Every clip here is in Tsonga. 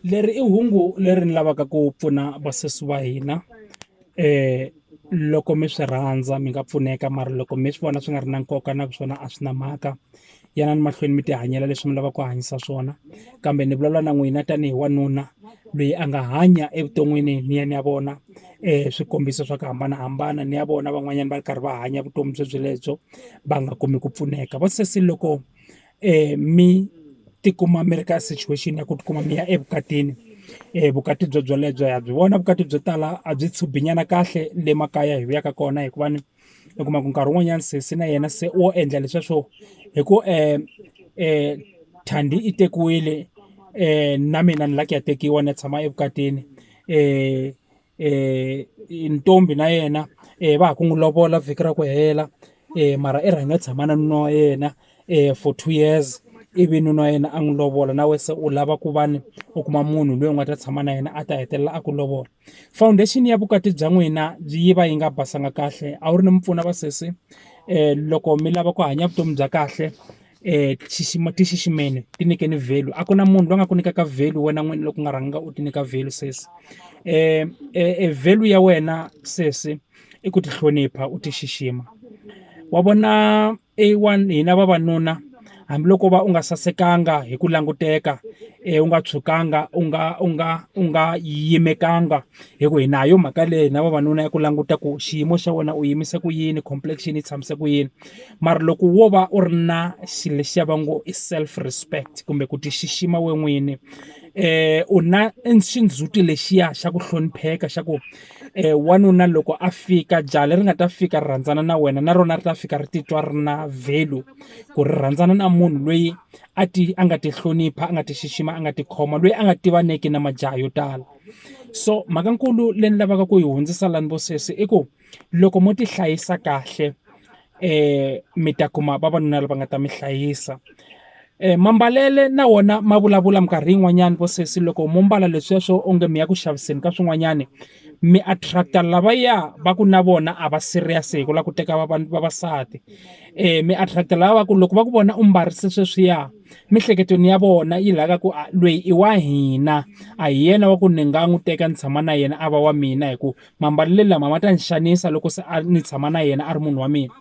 leri i hungu leri ni lavaka ku pfuna vasesi wa hina loko mi swi rhandza mi nga pfuneka mara loko mi swi vona swi nga ri na nkoka na ku swona a swi na mhaka yanani mahlweni mi ti hanyela leswi mi lavaka ku hanyisa swona kambe ni vulavula na n'wina tanihi wanuna loyi a nga hanya evuton'wini ni ya ni ya vona swikombiso swa ku hambanahambana ni ya vona van'wanyana va ri karhi va hanya vutomi bye byelebyo va nga kumi ku pfuneka va sesi loko um mi ti kuma mi ri ka situation ya ku ti kuma mi ya evukatini vukati byo byelebyo ha byi vona vukati byo tala a byi tshubhi nyana kahle le makaya hi vuyaka kona hikuva ni u kuma ku nkarhi wun'wanyani sesi na yena se o endla leswiya swo hi ku um thandi i tekiwile na mina ni la ku ya tekiwa ni ya tshama evukatini um um ntombi na yena um va ha ku n'wi lovola vhiki ra ku hela um mara i rhange tshama na nuna wa yena um for two years ivi nuna wa yena a n'wi lovola na wena se u lava ku va ni u kuma munhu loyi u nga ta tshama na yena a ta hetelela a ku lovola foundation ya vukati bya n'wina yi va yi nga basanga kahle a wu ri ni mupfuna vasesi um loko mi lava ku hanya vutomi bya kahle um ti xixima ti xiximeni ti nyikeni value a ku na munhu loyi a nga ku nyikaka value wena n'wini loko u nga rhanga u ti nyika value sesi um e value ya wena sesi i ku ti hlonipha u ti xixima wa vona a one hina vavanuna hambiloko va u nga sasekanga hi ku languteka um u nga tshukanga u nga u nga u nga yimekanga hi ku hi na yo mhaka leyi na vavanuna ya ku languta ku xiyimo xa wena u yimise ku yini complexion yi tshamise ku yini mara loko wo va u ri na xilo lexiya va ngo i self respect kumbe ku ti xixima we n'wini um u na xindzhuti lexiya xa ku hlonipheka xa ku um wanuna loko a fika jaha leri nga ta fika ri rhandzana na wena na rona ri ta fika ri titwa ri na value ku ri rhandzana na munhu loyi a ti a nga ti hlonipha a nga ti xixima a nga ti khoma loyi a nga tivaneki na majaha yo tala. so mhaka nkulu leyi ni lavaka ku yi hundzisa lani vo sesi i ku loko mo ti hlayisa kahle um mi ta kuma vavanuna lava nga ta mi hlayisa um mambalelo na wona ma vulavula minkarhi yin'wanyani vo sesi loko mo mbala leswiya swo onge mi ya ku xaviseni ka swin'wanyani mi attract-a lavaya va ku na vona a va serious hi ku lava ku teka vavasati um mi attract-a lava va ku loko va ku vona u mbarise sweswiya. Miehleketweni ya vona yi lava ku a loyi i wa hina a hi yena wa ku ni nga n'wi teka ni tshama na yena a va wa mina hi ku mambalelo lama ma ta ni xanisa loko se a ni tshama na yena a ri munhu wa mina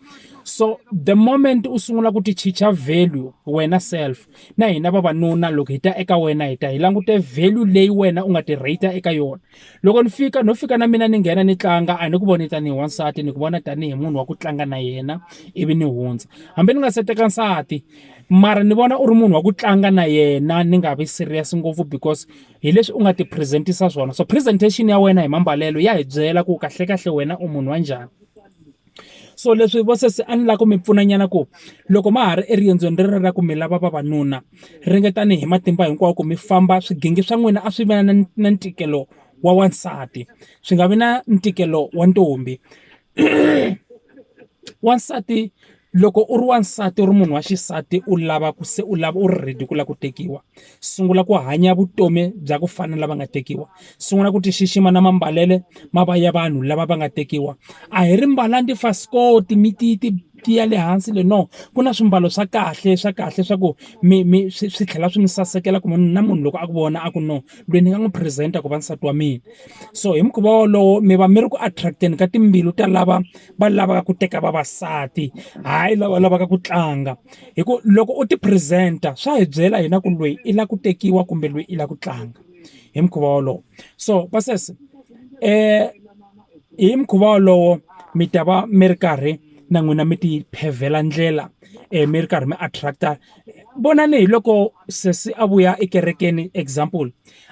so the moment u sungula ku ti chicha value wena self na hina vavanuna loko hi ta eka wena hi ta hi langute value leyi wena u nga ti rate eka yona loko ni fika no fika na mina ni nghena ni tlanga a ni ku voni tanihi wansati ni ku vona tanihi munhu wa ku tlanga na yena ivi ni hundza hambi ni nga se teka nsati. Mara ni vona u ri munhu wa ku tlanga na yena ni nga vi serious ngopfu because hi leswi u nga ti present-isa swona so presentation ya wena hi mambalelo ya hi byela ku kahlekahle wena u munhu wa njhani so leswi vo sesi a ni lava ku mi pfuna nyana ku loko ma ha ri eriendzweni rero ra ku mi lava vavanuna ringetani hi matimba hinkwawo ku mi famba swigingi swa n'wina a swi va na na ntikelo wa wansati swi nga vi na ntikelo wa ntombi. wansati loko u ri wansati u ri munhu wa xisati u lava ku se u lava u ri ready ku lava ku tekiwa sungula ku hanya vutomi bya ku fana na lava nga tekiwa sungula ku ti xixima na mambalelo ma va ya vanhu lava va nga tekiwa a hi ri mbalanga tifasikoti mi ti ti ti ya le hansi le no ku na swimbalo swa kahle swa kahle swa ku mi mi swi swi tlhela swi mi sasekela ku munhu na munhu loko a ku vona a ku no. loyi ni nga n'wi present-a ku va nsati wa mina so hi mukhuva wolowo mi va mi ri ku attract-eni ka timbilu ta lava va lavaka ku teka vavasati hayi lava lavaka ku tlanga hi ku loko u ti present-a swa hi byela hina ku loyi i lava ku tekiwa kumbe loyi i lava ku tlanga hi mukhuva wolowo so pasesi hi mukhuva wolowo mi ta va mi ri karhi na n'wina mi ti pevhela ndlela mi ri karhi mi attract-a. vonani hi loko sesi a vuya ekerekeni example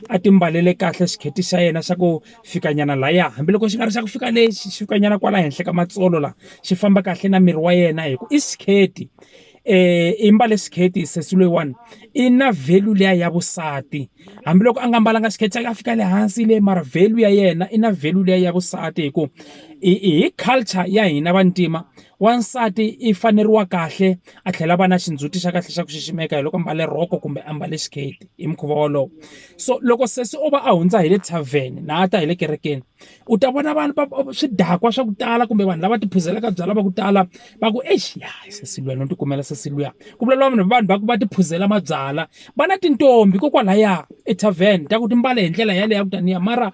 a ti mbalele kahle xiketi xa yena xa ku fika nyana lahaya hambiloko xi nga ri xa ku fika le xi fika nyana kwala henhla ka matsolo la xi famba kahle na miri wa yena hi ku i skirt i mbale skirt sesi loyiwani i na value liya ya vusati hambiloko a nga mbalanga skirt xa yena a fika le hansi le mara value ya yena i na value liya ya vusati hi ku hi culture ya hina vantima Wansati i faneriwa kahle a tlhela a va na xindzhuti xa kahle xa ku xiximeka hi loko mbale rhoko kumbe a mbale xiketi hi mukhuva wolowo so loko sesi o va a hundza hi le tarven na a ta hi le kerekeni u ta vona vanhu va swidakwa swa ku tala kumbe vanhu lava ti phuzelaka byalwa va ku tala va ku exi ya hi sesi luya no tikumela sesi luya ku vulavula vanhu vanhu va ku va ti phuzela mabyalwa va na tintombi kokwalaya etarven ta ku ti mbale hi ndlela yaleyo ya ku taniya mara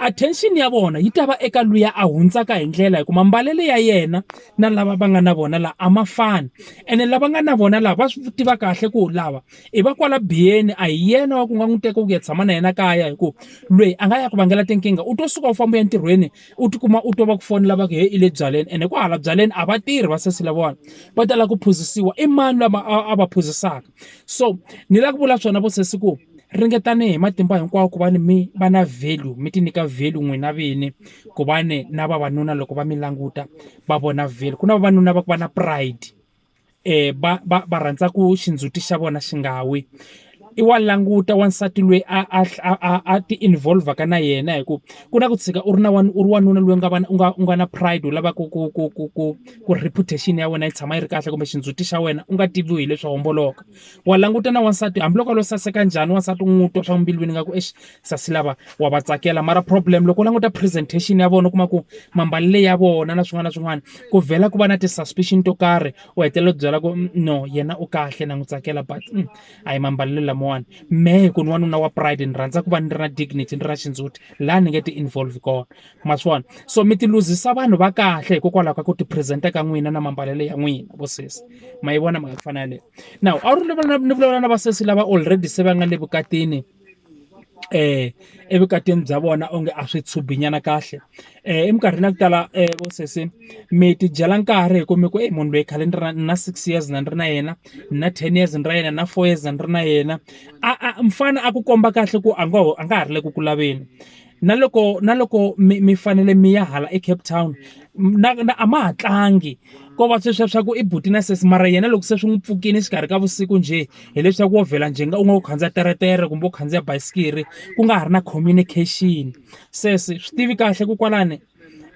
attention ya vona yi ta va eka luya a hundzaka hi ndlela hi ku mambalelo ya yena na lava va nga na vona la a ma fani ene lava nga na vona la va swi tiva kahle ku lava i va kwala biyeni a hi yena wa ku nga n'wi teka ku ya tshama na yena kaya hi ku lweyi a nga ya ku vangela tinkingha u to suka u famba ya ntirhweni u tikuma u to va ku fonela va ku he i le byaleni ene ku hala byaleni a va tirhi va sesi lavawani va tala ku phuzisiwa i mani lama a va phuzisaka so ni lava ku vula swona vo sesi ku ringetani hi matimba hinkwawo ku va ni mi va na value mi ti nyika value n'wina vini ku va ni na vavanuna loko va mi languta va vona value ku na vavanuna va ku va na pride va va va rhandza ku xindzhuti xa vona xi nga wi i wa languta wansati loyi a a a a ti involve-ka na yena hi ku ku na ku tshika u ri na u ri wanuna loyi nga va u nga u nga na pride u lavaka ku ku ku ku. ku ri reputation ya wena yi tshama yi ri kahle kumbe xindzhuti xa wena u nga tiviwi hi leswi homboloka wa languta na wansati hambiloko a lo saseka njhani wansati u n'wi twa swa mbilwini nga ku exi sasi lava wa va tsakela mara problem loko u languta presentation ya vona u kuma ku mambalele ya vona na swin'wana na swin'wana ku vhela ku va na ti-suspicion to karhi u hetelela u byela ku mm, no yena u kahle na n'wi tsakela but mm, a hi mambalelo lamawani me hi ku ni wanuna wa pride ni rhandza ku va ni ri na dignity ni ri na xindzhuti laha ni nge ti-involve kona ma swi vona so mi ti luzisa vanhu va kahle hikokwalaho ka ku ti present-a ka n'wina na mambalelo ya n'wina vo sesi ma yi vona mhaka ku fana yaleyo now a wu ri ni vulavula na vasesi lava already se va nga le vukatini eh evukatini bya vona onge a swi tshubinyana kahle eh eminkarhini ya ku tala eh vo sesi mi ti dyela nkarhi hi ku mi ku eyi munhu loyi khale ni ri na six years na ni ri na yena ni na ten years ni ra yena na four years na ni ri na yena a a mfana a ku komba kahle ku a ngo a nga ha ri le ku ku laveni na loko na loko mi mi fanele mi ya hala eCape Town na na a ma ha tlangi ko va sweswiya swa ku i buti na sesi mara yena loko se swi n'wi pfukile exikarhi ka vusiku njhe hileswaku wo vhela njhe nga u nga u khandziya teretere kumbe u khandziya basikiri ku nga ha ri na communication sesi swi tivi kahle ku kwalani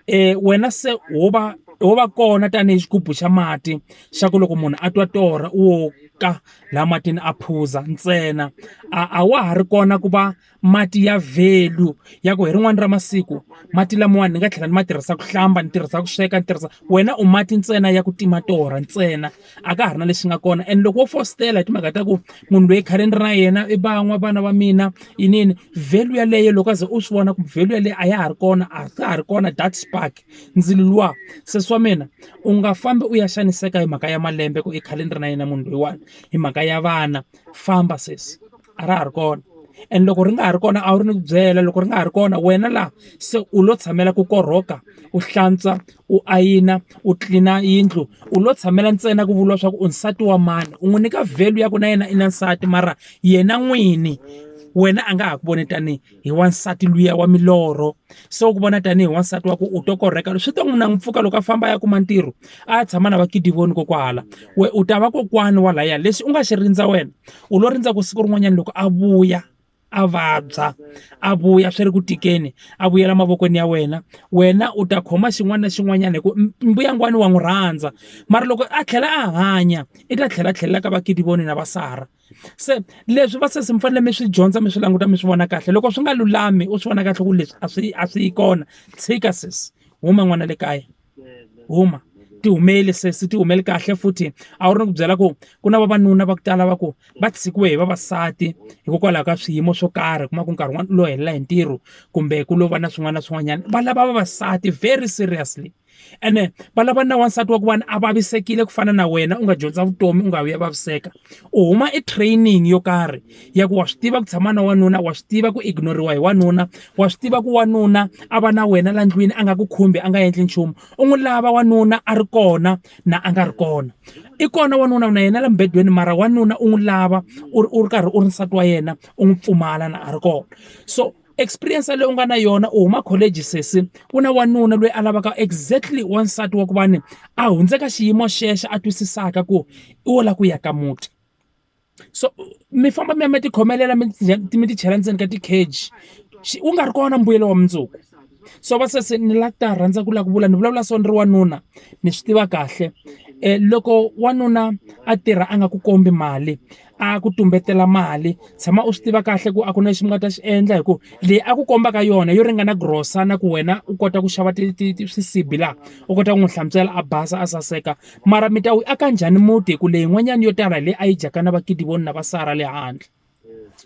um wena se ho va ho va kona tanihi xigubu xa mati xa ku loko munhu a twa torha u wo ka laha matini a phuza ntsena a a wa ha ri kona ku va. Mati ya value ya ku hi rin'wana ra masiku mati lamawani ni nga tlhela ni ma tirhisa ku hlamba, ni tirhisa ku sweka, ni tirhisa wena u mati ntsena ya ku tima torha ntsena a ka ha ri na lexi nga kona. And loko wo fositela hi timhaka ta ku munhu loyi khale ni ri na yena i va n'wa vana va mina inini value yeleyo loko a ze u swi vona ku value yeleyo a ya ha ri kona a ka ha ri kona that spark ndzilo luwa se swa mina u nga fambi u ya xaniseka hi mhaka ya malembe ku i khale ni ri na yena munhu loyiwani hi mhaka ya vana famba sesi. a ra ha ri kona and loko ri nga ha ri kona a wu ri ni ku byela loko ri nga ha ri kona wena laha se u lo tshamela ku korhoka u hlantswa u ayina u tlilina yindlu u lo tshamela ntsena ku vuriwa swa ku u nsati wa mani u n'wi nyika value ya ku na yena i na nsati mara yena n'wini wena a nga ha ku voni tanihi. hi wansati luya wa milorho se u ku vona tanihi wansati wa ku u to korheka swi ta n'wi na n'wi pfuka loko a famba ya kuma ntirho a ya tshama na vakidivoni kokwahala we u ta va kokwani wa laya leswi u nga xi rindza wena u lo rindza ku siku rin'wanyana loko a vuya a vabya a vuya swi ri ku tikeni a vuyela mavokweni ya wena wena u ta khoma xin'wana na xin'wanyana hi ku mbuyangwani wa n'wi rhandza mara loko a tlhela a hanya i ta tlhela tlhelela ka vakidivoni na vasara se leswi va sesi mi fanele mi swi dyondza mi swi languta mi swi vona kahle loko swi nga lulami u swi vona kahle ku leswi a swi a swi yi kona tshika sesi huma n'wana le kaya huma ti humeli sesi ti humeli kahle futhi a wu ri ni ku byela ku ku na vavanuna va ku tala va ku va tshikiwe hi vavasati hikokwalaho ka swiyimo swo karhi kuma ku nkarhi wun'wana u lo helela hi ntirho kumbe ku lo va na swin'wana na swin'wanyana va lava vavasati very seriously ene va lava na wansati wa ku va ni a vavisekile ku fana na wena u nga dyondza vutomi u nga vi ya vaviseka u huma e training yo karhi ya ku wa swi tiva ku tshama na wanuna wa swi tiva ku ignore-iwa hi wanuna wa swi tiva ku wanuna a va na wena la ndlwini a nga ku khumbi a nga endli nchumu u n'wi lava wanuna a ri kona na a nga ri kona i kona wanuna na yena la mubedweni mara wanuna u n'wi lava u ri u ri karhi u ri nsati wa yena u n'wi pfumala na a ri kona so experience leyi u nga na yona u huma college sesi ku na wanuna loyi a lavaka exactly wansati wa ku va ni a hundzeka xiyimo xexo a twisisaka ku i wo lava ku ya ka muti so mi famba mi ya mi ti khomelela mi mi ti chela ndzeni ka ti-cage wu nga ri kona mbuyelo wa mundzuku so va sesi ni la ta rhandza ku lava ku vula ni vulavula so ni ri wanuna ni swi tiva kahle um loko wanuna a tirha a nga ku kombi mali a ku tumbetela mali tshama u swi tiva kahle ku a ku na lexi mi nga ta xi endla hi ku leyi a ku kombaka yona yo ringana grocer na ku wena u kota ku xava ti ti ti swisibi laha u kota ku n'wi hlantswela a basa a saseka mara mi ta wu aka njhani muti hi ku leyin'wanyana yo tala hi leyi a yi dyaka na vakidiwoni na vasara le handle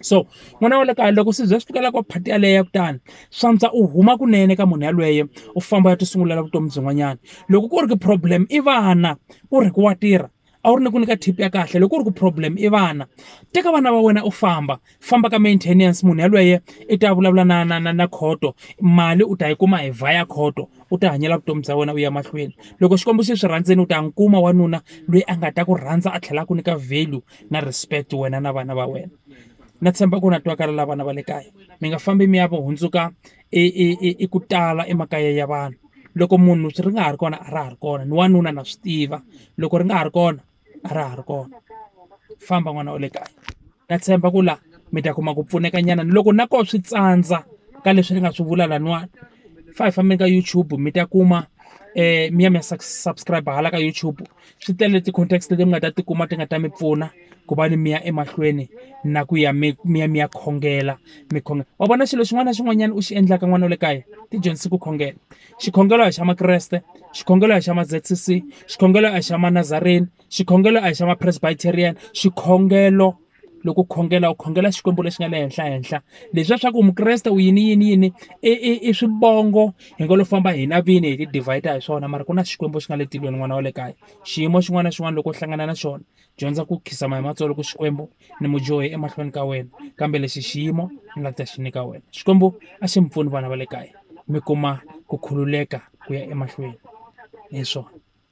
so n'wana wa le kaya loko swi za swi fikela ka phati yaleyo ya kutani swantswa u huma kunene ka munhu yalweye u famba u ya ti sungulela vutomi byin'wanyana loko ku ri ku problem i vana ku ri ku wa tirha a wu ri ni ku nyika tip ya kahle loko ku ri ku problem i vana teka vana va wena u famba famba ka maintenance munhu yelweyo i ta vulavula na na na na khoto mali u ta yi kuma hi vhiya khoto u ti hanyela vutomi bya wena u ya mahlweni loko xikwembu xi swi rhandzela u ta n'wi kuma wanuna loyi a nga ta ku rhandza a tlhela a ku nyika value na respect wena na vana va wena na tshemba ku na twakalaka vana va le kaya mi nga fambi mi ya va hundzuka. i i i i ku tala emakaya ya vanhu loko munhu ri nga ha ri kona a ra ha ri kona ni wanuna na swi tiva loko ri nga ha ri kona a ra ha ri kona famba n'wana wa le kaya na tshemba ku la mi ta kuma ku pfuneka nyana loko na koho swi tsandza ka leswi ni nga swi vula laniwani fa hi fambeni ka YouTube mi ta kuma mi ya mi ya subscribe hala ka YouTube. Swi tele ti-context leti mi nga ta ti kuma ti nga ta mi pfuna ku va ni mi ya emahlweni na ku ya mi mi ya mi ya khongela mi wa vona xilo xin'wana na xin'wanyana u xi endlaka n'wana wa le kaya tidyondzise ku khongela. Xikhongelo a hi xa makreste, xikhongelo a hi xa ma-Z_C_C, xikhongelo a hi xa manazareni, xikhongelo a hi xa ma-Presbyterian, xikhongelo loko u khongela u khongela Xikwembu lexi nga le henhla henhla. Leswiya swa ku u mukreste u yini yini yini, i i i swivongo hi ngo lo famba hina vini hi ti-divide-a hi swona mara ku na Xikwembu xi nga le tilweni n'wana wa le kaya. Xiyimo xin'wana na xin'wana loko u hlangana na xona, dyondza ku khidzama hi matsolo ku Xikwembu ni mu dyohe emahlweni ka wena, kambe lexi xiyimo ni nga ta xi nyika wena. Xikwembu a xi mi pfuni vana va le kaya, mi kuma ku khululeka ku ya emahlweni hi swona.